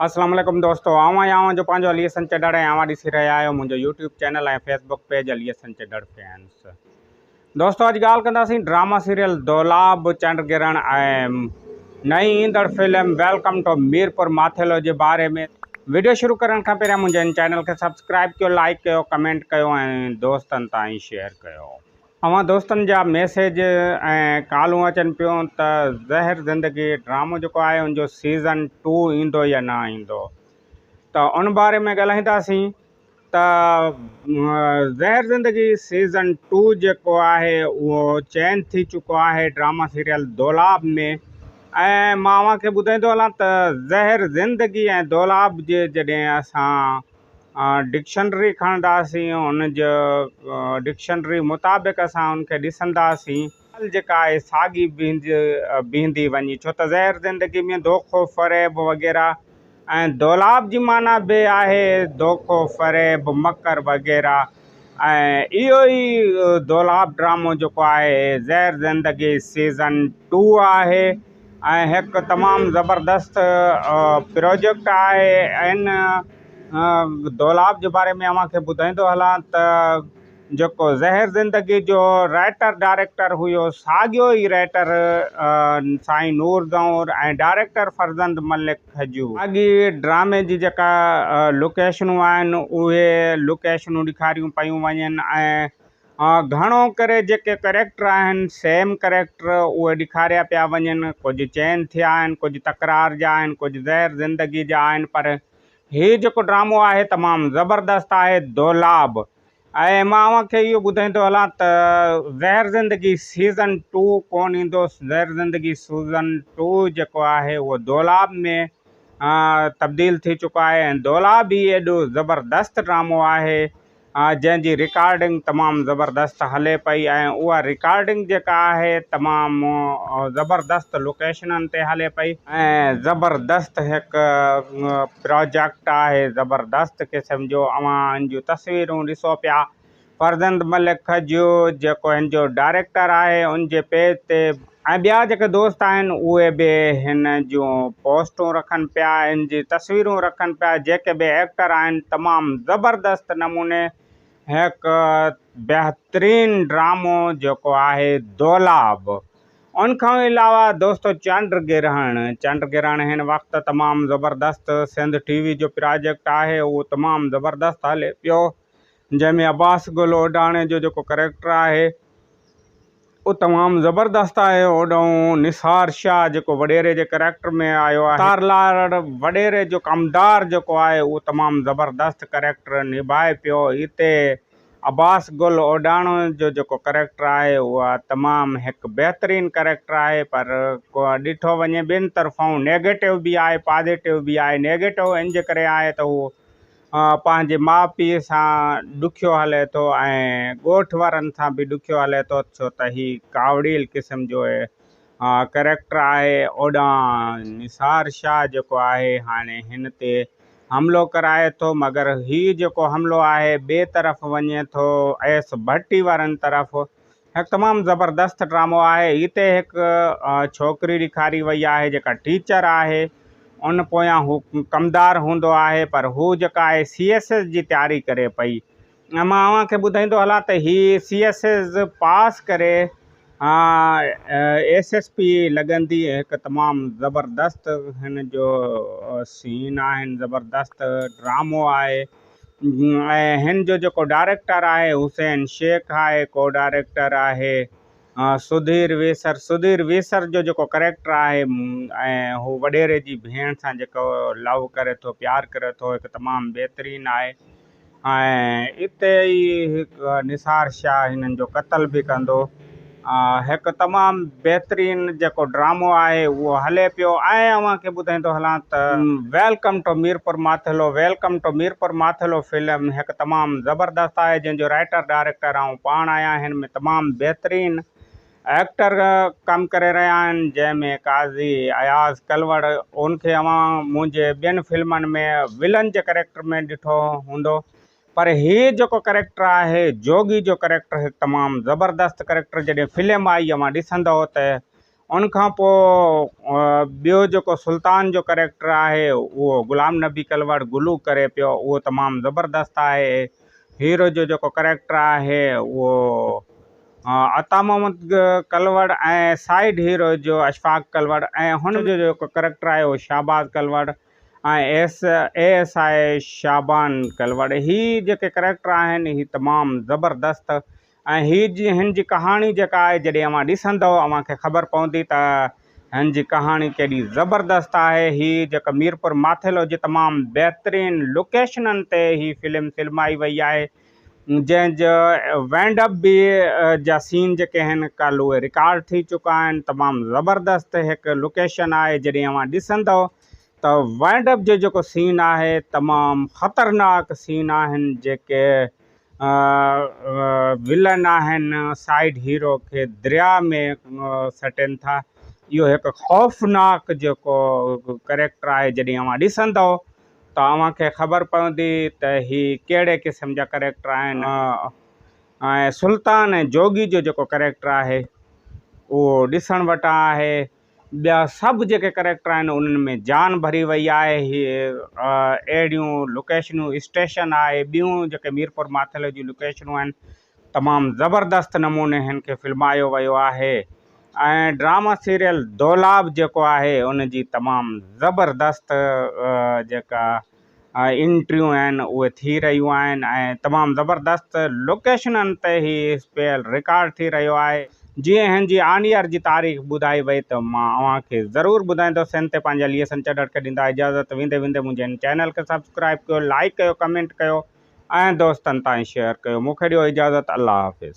اسلام عليڪم دوستو آئون ۽ اوهان جو پنهنجو علي حسن چڍڙ ۽ اوهان ڏسي رهيا آهيو منهنجو YouTube channel ۽ Facebook page Ali Hasan Chadhar fans دوستو اڄ ڳالهه ڪنداسين ڊراما سيريل دولاب چنڊ گرهڻ ۽ نئين ايندڙ film welcome to Mirpur Mathelo جي باري ۾ ويڊيو شروع ڪرڻ کان پهريان منهنجي هن چينل کي سبسڪرائب ڪيو لائڪ ڪيو ڪمينٽ ڪيو ۽ دوستن تائين شيئر ڪيو اوهان دوستن جا ميسيج ۽ ڪالون اچن پيون ته زهر زندگي ڊرامو جيڪو آهي ان جو سيزن ٽو ايندو يا نه ايندو ته ان باري ۾ ڳالهائينداسين ته زهر زندگي سيزن ٽو جيڪو آهي اهو چين ٿي چڪو آهي ڊراما سيريل دولاب ۾ ۽ مان اوهان کي ٻڌائيندو هلان ته زهر زندگي ۽ دولاب جي جڏهن اسان ڊڪشنري کڻنداسين ان جو ڊڪشنري مطابق اسان ان کي ڏسنداسين ڳالهه جيڪا آهي ساڳي بيهندي بيهندي وڃي ڇو ته ظاهر زندگي ۾ دوکو فريب وغيره ۽ دولاب جي معنيٰ به آهي دوکو فريب مڪر وغيره ۽ اهو ئي دولاب ڊرامو جيڪو آهي ظاهر زندگي سيزن ٽو آهي ۽ هڪ تمام زبردست پروجيڪٽ آهي ان دولاب جي باري ۾ اوهان کي ٻڌائيندو هلان ته جيڪو زهر زندگي جو رائٽر ڊائريڪٽر هيو ساڳيو ئي رائٽر سائين نور گنور ۽ ڊائريڪٽر فرزند ملڪ کجو ساڳي ڊرامي جي جيڪا لوڪيشنون آهن اهي لوڪيشنون ڏيکاريون پيون وڃن ۽ گهڻو ڪري جيڪي ڪريڪٽر آهن سيم ڪريڪٽر اهي ڏيکاريا پيا وڃن ڪجهه چين ٿيا آهن ڪجهه تڪرار جا آهن ڪجهه زهر زندگي جا آهن پر هي جيڪو ڊرامو آهي تمام زبردست آهي دولاب ۽ مان اوهان کي اهو ٻڌائيندو هلان ته زهر زندگي سيزن ٽو ڪون ايندو زهر زندگي سيزن ٽو جيڪو آهي اهو دولاب ۾ تبديل ٿي چڪو آهي ۽ دولاب هي ايڏو زبردست ڊرامو آهي جنهن جي رڪارڊنگ تمام زبردست هلي پئي ۽ اها رڪارڊنگ جيڪا آهي تمام زبردست لوڪيشنن تي هلي پئي ۽ زبردست هڪ پراجيڪٽ آهي زبردست قسم جو اوهان هن جون تصويرون ڏسو پيا فرزند ملڪ کجيو جيڪو هن جو ڊائريڪٽر آهي ان جي پيج تي ۽ ٻيا جيڪي دوست آهن اهي به هن جون پوسٽون رکن پيا هن جي تصويرون رکن پيا جيڪي به ايڪٽر آهن تمام زبردست نموني هڪ بهترين ڊرامو جيڪو آهي دولاب ان کان علاوه دوستو چنڊ گرهڻ چنڊ گرهڻ هن وقت تمام زبردست سنڌ ٽي وي جو پراجيڪٽ آهي اهو تمام زبردست هلي پيو جنهن ۾ عباس گل اوڊاڻي جو جيڪو ڪريڪٽر آهي او تمام زبردست آهي اوڏانهن نثار شاهه جيڪو وڏيري جي ڪريڪٽر ۾ آيو آهي تارلاڙ وڏيري جو ڪمدار جيڪو آهي اهو تمام زبردست ڪريڪٽر نڀائي پيو هتي عباس گل اوڏاڻو جو جيڪو ڪريڪٽر آهي اها تمام هڪ بهترين ڪريڪٽر آهي پر ڏٺو وڃي ٻن طرفائون نيگيٽو به آهي پازيٽو به آهي نيگيٽو ان جي ڪري آهي ته اهو پنهنجي ماء پيء سان ڏکيو هلي ٿو ۽ ڳوٺ وارن سان به ڏکيو هلي ٿو ڇو ته هي ڪاوڙيل قسم جو ڪريڪٽر آهي. اوڏانهن نثار شاهه جيڪو آهي هاڻي هن تي حملو ڪرائي ٿو مگر هي جيڪو حملو آهي ٻئي طرف وڃي ٿو ايس ڀٽي وارن طرف هڪ تمام زبردست ڊرامو آهي هتي هڪ ڇوڪري ڏيکاري وئي آهي جيڪا ٽيچر آهي ان پويان هو ڪمدار هوندو آهي پر هو جيڪا آهي سي ايس ايس جي تياري ڪري پئي ۽ مان اوهان کي ٻڌائيندو هلان ته هي سي ايس ايس پاس ڪري ايس ايس پي لڳندي هڪ تمام زبردست هن جو سين آهن زبردست ڊرامو آهي ۽ ھن جو جيڪو ڊائريڪٽر آھي حسين شيخ آھي ڪو ڊائريڪٽر آھي سڌير ويسر سڌير ويسر جو جيڪو ڪريڪٽر آھي ۽ ھو وڏيري جي ڀيڻ سان جيڪو لو ڪري ٿو پيار ڪري ٿو ھڪ تمام بھترين آھي ۽ اتي ئي ھڪ نثار شاھ ھنن جو قتل به ڪندو هڪ تمام بهترين جيڪو ڊرامو آهي اهو هلي پيو ۽ اوهان کي ٻڌائيندو هلان ته welcome to Mirpur Mathelo welcome to Mirpur Mathelo film هڪ تمام زبردست آهي جنهن جو رائيٽر ڊائريڪٽر آئون پاڻ آهيان هن ۾ تمام بهترين ايڪٽر ڪم ڪري رهيا آهن جنهن ۾ قاضي اياز ڪلوڙ ان کي اوهان منهنجي ٻين فلمن ۾ ولن جي ڪريڪٽر ۾ ڏٺو هوندو پر هي جيڪو ڪريڪٽر آهي جوڳي جو ڪريڪٽر هڪ تمام زبردست ڪريڪٽر جڏهن فلم آئي اوهان ڏسندئو ته ان کان پوء ٻيو جيڪو سلطان جو ڪريڪٽر آهي اهو غلام نبي ڪلوڙ گلو ڪري پيو اهو تمام زبردست آهي هيرو جو جيڪو ڪريڪٽر آهي اهو عطا محمد ڪلوڙ ۽ سائيڊ هيرو جو اشفاق ڪلوڙ ۽ هن جو جيڪو ڪريڪٽر آهي اهو Shahbaz Kalhoro ۽ S A S I Shaban Kalhoro هي جيڪي ڪريڪٽر آهن هي تمام زبردست ۽ هي جي هن جي ڪهاڻي جيڪا آهي جڏهن اوهان ڏسندو اوهان کي خبر پوندي ته هن جي ڪهاڻي ڪيڏي زبردست آهي هي جيڪا ميرپور ماٿيلو جي تمام بهترين لوڪيشنن تي هي فلم فلمائي وئي آهي جنهن جا وينڊ اپ به جا سين جيڪي آهن ڪل اهي رڪارڊ ٿي چڪا آهن تمام زبردست هڪ لوڪيشن آهي جڏهن اوهان ڏسندو ته وينڊ اپ جو جيڪو سين آهي تمام خطرناڪ سين آهن جيڪي ولن آهن سائيڊ هيرو کي دريا ۾ سٽين ٿا اهو هڪ خوفناڪ جيڪو ڪريڪٽر آهي جڏهن اوهان ڏسندو توهان کي خبر پوندي ته هي ڪهڙي قسم جا ڪريڪٽر آهن ۽ سلطان ۽ جوڳي جو جيڪو ڪريڪٽر آهي اهو ڏسڻ وٽان آهي ٻيا سڀ جيڪي ڪريڪٽر آهن انهن ۾ جان ڀري وئي آهي هي اهڙيون لوڪيشنون اسٽيشن آهي ٻيون جيڪي ميرپور ماٿيلي جون لوڪيشنون آهن تمام زبردست نموني هن کي فلمايو ويو آهي ۽ ڊرامه سيريل دولاب جيڪو آهي ان جي تمام زبردست جيڪا انٽريون آهن اهي ٿي رهيون آهن ۽ تمام زبردست لوڪيشنن تي هي اسپيل رڪارڊ ٿي رهيو آهي جي هن جي آن ايئر جي تاريخ ٻڌائي وئي ته مان اوهان کي ضرور ٻڌائيندو سين تي پنهنجا ليئسن چڏڙ کي ڏيندا اجازت ويندي ويندي منهنجي هن چينل کي سبسڪرائب ڪيو لائيڪ ڪيو ڪمينٽ ڪيو. ۽ دوستن تائين شيئر ڪيو مونکي ڏيو اجازت الله حافظ.